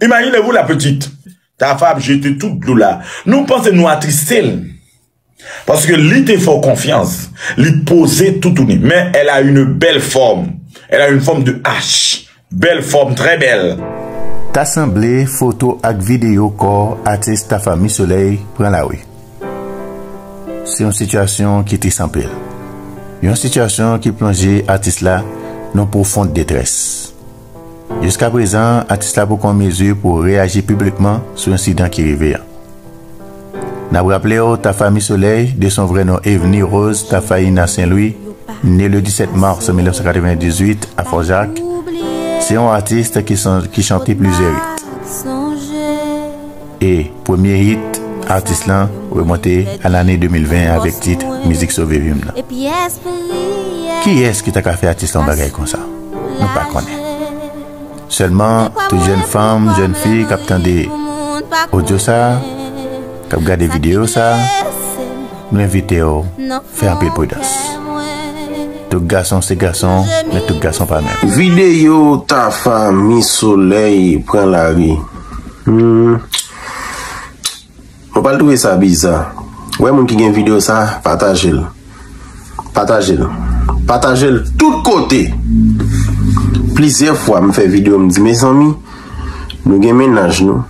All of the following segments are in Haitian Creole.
Imaginez vous la petite. Tafa ap jete tout dlo la. Nou panse nou atriste l. Paske li te fè w konfyans. Li poze toutouni. Men elle a une belle forme. Elle a une forme de H. Belle forme, très belle. Ta sanble foto ak videyo kò atis Tafa Mi Soleil pran lari. Se yon sitiyasyon ki tris anpil. Yon sitiyasyon ki plonje atis la nan pwofond detrès. Jiska prezan, atis la poko an mezi pou reyaji piblikman sou ensidan ki rive an. N ap raple w, Tafa Mi Solèy, de son vrè non Evenie Rose Tafaina St-Louis, ne le 17 mars 1998 a Fòjak, se yon atis ki chante plizyè it. E premye hit atis lan remonte a lane 2020 avèk tit Mizik Sove Vim nan. Kiyès ki ta ka fè atis la yon bagay konsa? Nou pa konnen. Sèlman tout jèn fanm, jèn fi k ap tande odyo sa, k ap gade videyo sa, nou envite w fè anpil pridans. Tout gason se gason, men tout gason pa menm. Videyo Tafa Miss Solèy pran lari. Mwen pral touve sa biza. Wè moun ki gen video sa, patajel. Patajel. Patajel tout kote. Plizyè fwa m fè video m di mezanmi, nou gen menaj nou.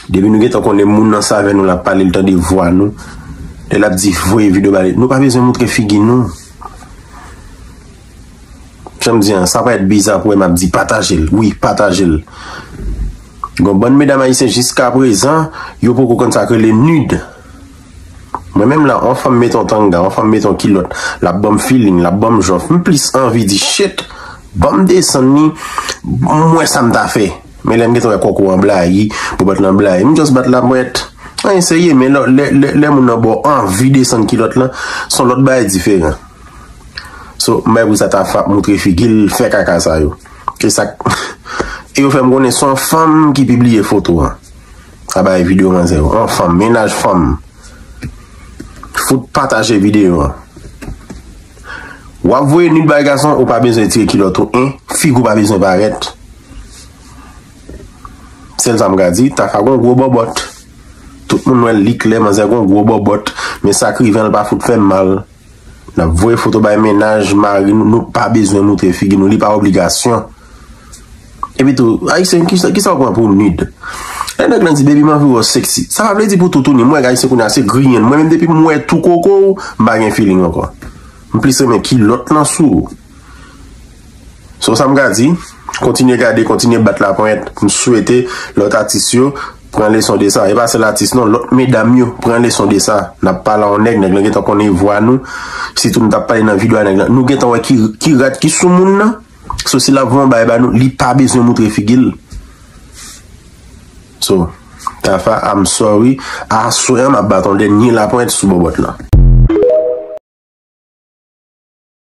Depi nou gen tan konnen moun nan sa vè nou la pale l tande vwa nou. Lè l ap di voye video bale. Nou pa bezwen moutre figi nou. Janm di an, sa pa et biza pou wè map di patajel, wi patajel. Gon bann medam ayisyen jiska prezan, yo poko konn sak rele nude. Mwen menm la, on fanm met on tanga, on fanm met on kilot, lap banm feeling, lap banm jòf, m plis anvi di shit, banm desann ni, m wè sam ta fè. Men lèm gentan wè kòkò an blayi, pou bat lan blayi, m just bat la mwen et. Anyen serye, men lè moun nan baw anvi desann kilot lan, son lòt bagay diferan. So mwen pou sa tafa moutre figil fè kaka sa yo. E sak e yo fèm konnen son fanm ki pibliye foto an. A bay video man zè yo. On fanm menaj fanm. Fout pataje video an. Wap voye nud bay gason ou pa bezwen tire kilot ou en fig ou pa bezwen paret. Sel sa m ka di tafa gon gwo bobot. Tout moun wèl li klè man zè gon gwo bobot. Men sak rive an l pa fout fèm mal. Nap voye foto bay mennaj mari nou, nou pa bezwen moutre figi nou, li pa obligasyon. Epi tou, ayisyen kisa ou pran pou nud? Lè nèg lan di baby m anvi wèw sexy, sa pa vle di pou toutouni, m wè ayisyen kounye a se griyen, mwen menm depi m wè tou koko ou, m pa gen feeling ankò. M plis renmen kilòt lan sou ou. So sa m ka di, kontinye gade, kontinye bat laponyèt. M swete lòt atis yo pran leson de sa. E pa sèl atis non, lòt medam yo pran leson de sa. N ap pale a yon nèg, nèg lan gentan konnen vwa nou. Sitou nou t ap pale nan video a nèg lan. Nou gentan wè ki rad ki sou moun nan. So si l ap vwe yon bagay ba nou, li pa bezwen moutre figi l. So, Tafa, I'm sorry. Aswè an m ap bat yon dènye laponyèt sou bòbòt lan.